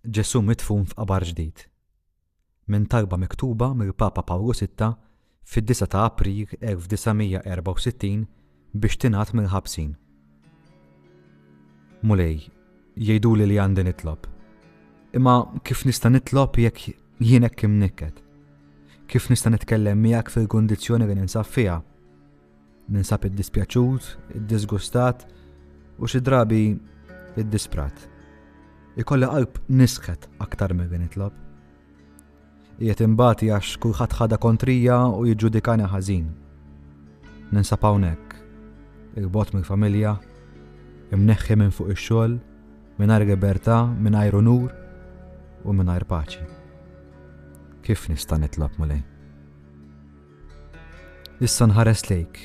Ġesù midfun f'qabar ġdid. Minn talba miktuba mill-Papa Pawlu Sitta fid-disgħa ta' April 1964 biex tingħad mill-ħabsin. Mulej, jgħiduli li għandi nitlob. Imma kif nista' nitlob jekk jien hekk imnikket? Kif nista' nitkellem miegħek fil-kundizzjoni li ninsab fiha? Ninsab iddispjaċut, iddiżgustat u xi drabi iddisprat. Ikolli qalb nisħet aktar milli nitlob. Qiegħed imbati għax kulħadd ħada kontrija u jiġġudikani ħażin. Ninsab hawnhekk, il-bot mill-familja, imneħħi minn fuq ix-xogħol, mingħajr libertà, mingħajr unur u mingħajr paċi. Kif nista' nitlob mulej? Issa nħares lejk,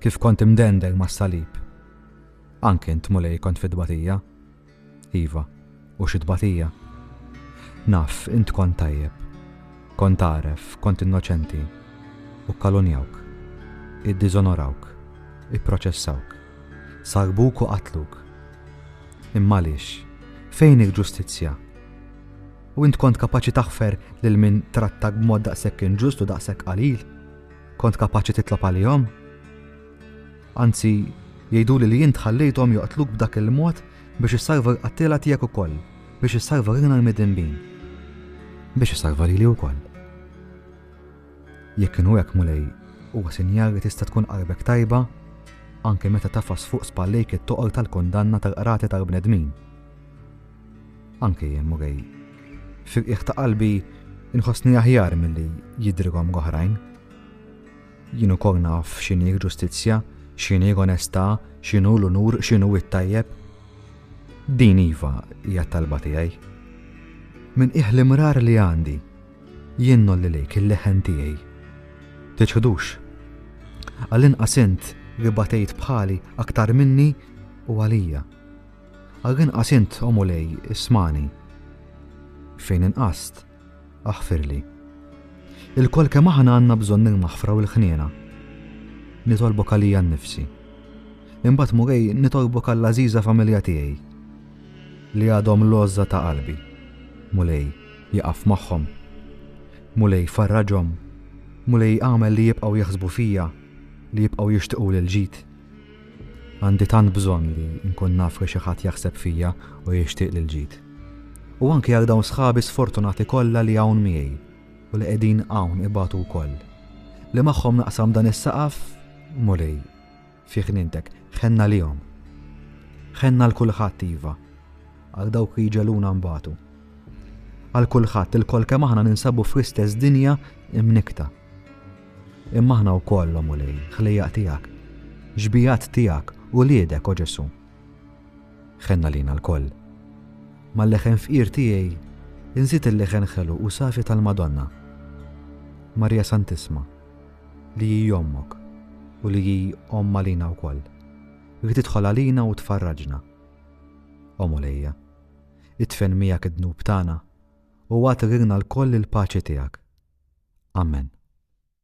kif kont imdendel mas-salib. Anke int, Mulej, kont fi tbatija. Iva, u xi tbatija. Naf, int kont tajjeb. Kont għaref, kont innoċenti. U kalunjawk. Iddiżonorawk. Ipproċessawk. Salbuk u qatluk. Imma għaliex? Fejn il-ġustizzja? U int kont kapaċi taħfer lil min trattak b'mod daqshekk inġust u daqshekk qalil? Kont kapaċi titlob għalihom? Anzi, jgħiduli li int ħallejthom joqtluk b'dak il-mod biex issalva l-qattila tiegħek ukoll, biex issalva lilna l-midinbin. Biex issalva lili wkoll. Jekk kienu hekk mulej, huwa sinjal li tista' tkun qalbek tajba anke meta tafas fuq spallejk it-toqol tal-kundanna tal-qrati tal-bnedmin. Anke jien Murray. Fil-qiegħ ta' qalbi inħossni aħjar milli jidrilhom l-oħrajn. Jien ukoll naf x'inhi ġustizzja, x'inhi onestà, x'inhu l-unur, x'inhu it-tajjeb. Din iva hija talba tiegħi. Min qiegħ l-imrar li għandi, jien nolli lejk il-leħen tiegħi. Tiċħdux. Għall-inqas int li batejt bħali aktar minni u għalija. Għal inqas int, O Mulej, ismagħni. Fejn inqast, aħfirli. Ilkoll kemm aħna għandna bżonn il-maħfra u l-ħniena. Nitolbok għalija nnifsi. Imbagħad Mulej nitolbok għall-għażiża familja tiegħi li għadhom l-għożża ta' qalbi. Mulej, jaqaf magħhom. Mulej farraġhom. Mulej għamel li jibqgħu jaħsbu fija, li jibqgħu jixtiequ lil ġid. Għandi tant bżonn li nkun naf li xi ħadd jaħseb fija u jixtieqli l-ġid. U anki għal dawn sħabi sfortunati kollha li hawn miegħi u li qegħdin hawn ibatu wkoll. Li magħhom naqsam dan is-saqaf, Mulej, fi ħnientek, ħenna lihom. Ħenna għal kulħadd iva, għal dawk li jġeluna nbatu. Għal kulħadd ilkoll kemm aħna ninsabu fl-istess dinja imnikta. Imma aħna wkoll, O Mulej, ħlejjaq tiegħek, xbigħat tiegħek, uliedek, O Ġesù. Ħenn għalina lkoll. Mal-leħen fqir tiegħi inżid il-leħen ħelu u safi tal-Madonna. Marija Santisma, li hi ommok u li hi omm għalina wkoll. Li tidħol għalina u tfarraġna. O Mulejja, itfen miegħek id-dnub tagħna u għad rilna lkoll il-paċi tiegħek. Amen.